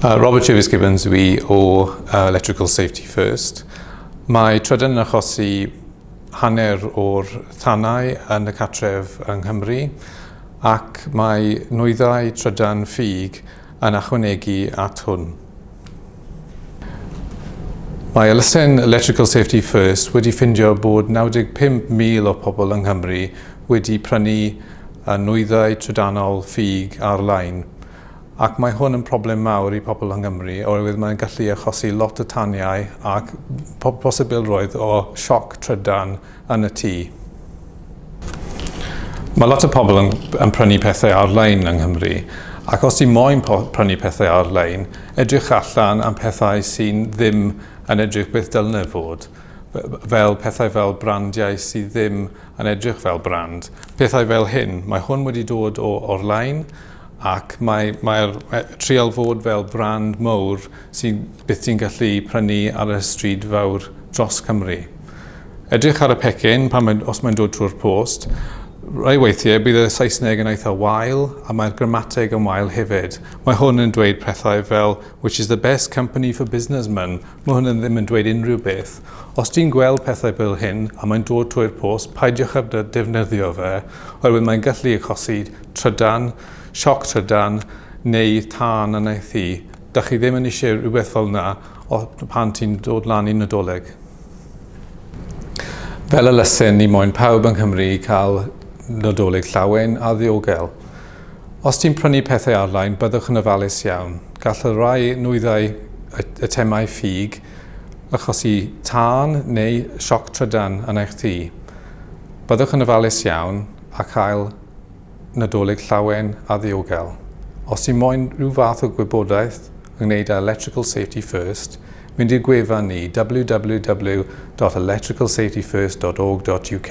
Uh, Robert Travis Gibbons yw i o uh, Electrical Safety First. Mae trydan yn achosi hanner o'r thanau yn y catref yng Nghymru ac mae nwyddau trydan ffug yn achwanegu at hwn. Mae elusen Electrical Safety First wedi ffindio bod 95,000 o pobl yng Nghymru wedi prynu y nwyddau trydanol ffug ar-lein, ac mae hwn yn problem mawr i pobl yng Nghymru oherwydd mae'n gallu achosi lot o taniau ac posibilrwydd o sioc trydan yn y tŷ. Mae lot o pobl yn, yn prynu pethau ar-lein yng Nghymru, ac os ti moyn prynu pethau ar-lein, edrych allan am pethau sy'n ddim yn edrych beth dylne fod, fel pethau fel brandiau sydd ddim yn edrych fel brand. Pethau fel hyn, mae hwn wedi dod o orlein ac mae, mae'r e, trial fod fel brand mowr sy'n byth ti'n gallu prynu ar y stryd fawr dros Cymru. Edrych ar y pecyn pan mae, os mae'n dod trwy'r post, rai weithiau bydd y Saesneg yn eitha wael a mae'r grammateg yn wael hefyd. Mae hwn yn dweud pethau fel which is the best company for businessmen Mae hwn yn ddim yn dweud unrhyw beth. Os ti'n gweld pethau fel hyn a mae'n dod trwy'r post, peidiwch â defnyddio fe, oherwydd mae'n gallu achosi trydan, sioc trydan, neu tân yn ei thŷ. Dach chi ddim yn eisiau rhywbeth fel yna pan ti'n dod lan i Nadolig. Fel elusen, ni moyn pawb yng Nghymru i cael Nadolig llawen a ddiogel. Os ti'n prynu pethau arlein, byddwch yn ofalus iawn. Gall y rhai nwyddau eitemau ffug achosi tân neu sioc trydan yn eich tŷ. Byddwch yn ofalus iawn a chael Nadolig llawen a ddiogel. Os ti moyn rhyw fath o gwybodaeth ynghneud â Electrical Safety First, Mynd i'r gwefan ni, www.electricalsafetyfirst.org.uk.